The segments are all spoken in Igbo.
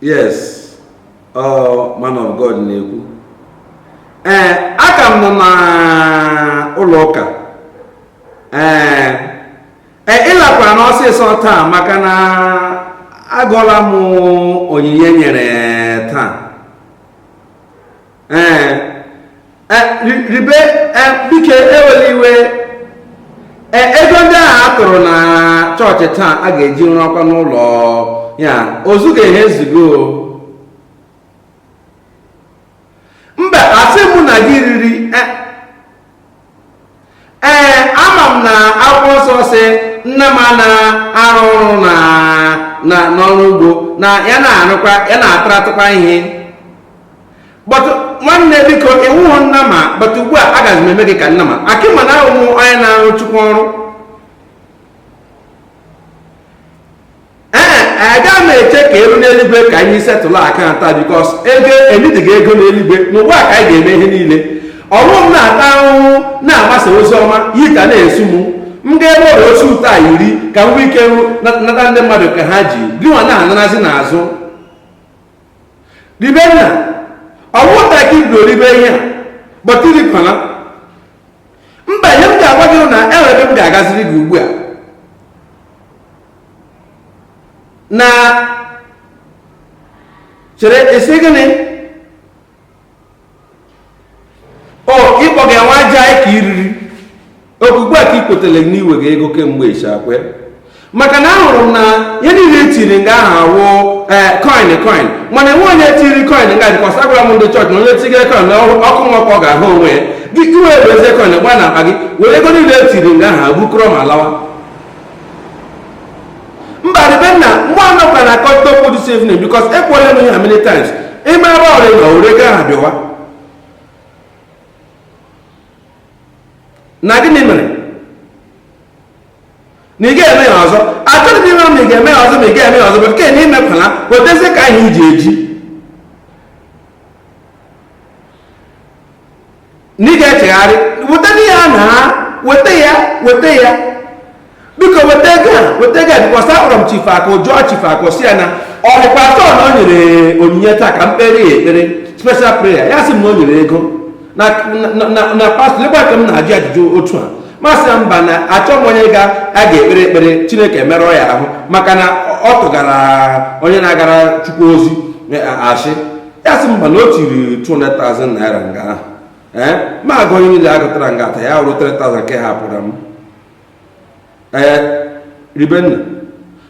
yes ọ man of God na-ekwu ee eh, aka m nọ na ụlọ ụka ee eh, e, ị lakwa n'ọsịsọ taa maka na agụọla m onyinye nyere taa ee e, ribe e, biko ewela iwe e, ego ndị ahụ a tụrụ na chọọchị taa a ga-eji rụọkwa n'ụlọ ya ozuga ihe ezugo mba asị mụ na gị riri ee ama m na akwụkwọ nsọ sị nnama na-arụ ọrụ na na n'ọrụ ugbo na ya na-arụkwa ya na-ataratụkwa ihe but nwanne biko ị wụhụ nnama but ugbu a agaghị m eme gị ka nnama maka ị ma na ị wụ onye na-arụ chukwu ọrụ ee agaghị m eche ka e ruo n'eluigwe ka anyị settle account a because ego enwedịghị ego n'eluigwe n'ugbu a ka anyị ga-eme ihe niile ọ wụ m na-ata ahụhụ na-agbasa ozi ọma gị ka na-eso m m ga-ebe ọrịa osi ụtọ a iri ka m nwee ike nata ndị mmadụ ka ha ji gịnwa na-anarazi n'azụ ribenna ọ wụ taa ka i bidoro ribe ihe a but irikwana mba ihe m ga-agwa gị na enweghị ihe ga-agaziri gị ugbu a nna chere ị sị gịnị o ịkpọ gị nwa aja anyị ka iriri ọkwa ugbu a ka ikwetara na iwega ego kemgbe ịchakwe maka na ahụrụ m na ihe niile etiri nga ahụ awụ eh, coin coin mana enweghị onye tiri coin nga because agwara m ndị chọọchị na onye tigere coin na ọkụ mmụọ ka ọ ga-ahụ onwe ya gị ewerezie coin gba na akpa gị were ego niile etiri nga ahụ bukọrọ ma lawa mba ribenna nwa anọ ka na akọta okwu this evening because ekwuola m ya many times ịma ebe ọrịa na were ego ahụ bịawa na gịnị mere na ị ga-eme ya ọzọ achọghị m ịma ma ị ga-eme ya ọzọ ma ị ga-eme ya ọzọ but nke na imepụla wetazie ka anyị ji eji na ị ga-echegharị wetadị ya na weta ya weta ya biko weta ego a weta ego a because akpọrọ m chifu akụ jụọ chifu akụ sị ya na ọ dịkwa sure na o nyere onyinye taa ka m kpeere ya ekpere special prayer ya sị m na o nyere ego na na- na na pastọ lekwa ka m na-ajụ ajụjụ otu a m asị ya mba na achọ m onye ga a ga-ekpere ekpere chineke emerụọ ya ahụ maka na ọ tụgara onye na-agara chukwu ozi eh, asị ya sị mba na o tiri 200,000 naira nga ahụ ee eh, ma agụ onye niile agụtara nga ata ya wụrụ 3,000 nke hapụrụ m ee eh, ribe nna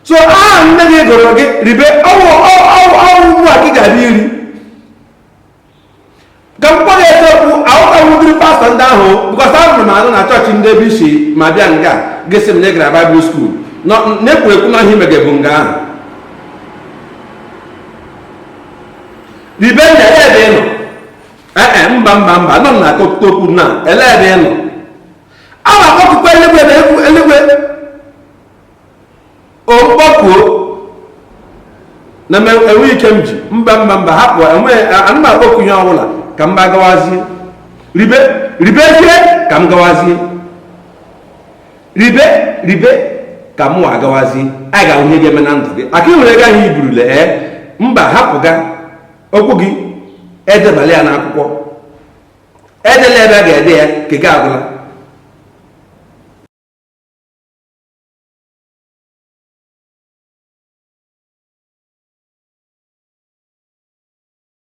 so aha nne gị gụrụ gị ribe ọwụ ọwụ ugbu a gị gara iri ka m kpọrọ eziokwu ahụtawudiri pastọ ndị ahụ because ahụrụ m anụ na chọọchị ndị ebe i si ma bịa nga gị sị m na ị gara baịbụl skuul na-ekwu ekwu na ihe i mege bụ nga ahụ Ribe nna ele ebe ị nọ ee eh, eh, mba mba mba nọ na akọ okwu na ele ebe ị nọ a na-akpọku eluigwe na eluigwe okpọkuo na enwe ike m ji mba mba mba hapụ enweghị ana m akpọku ihe ọbụla ka m gawazie ribe ribezie ka m gawazie ribe ribe ka mụ agawazi a ga-ahụ ihe ga-eme na ndụ gị maka ị nwere ego ahụ i burule ee mba hapụga okwu gị edebala ya n'akwụkwọ edela ebe a ga-ede ya nke gị agwụla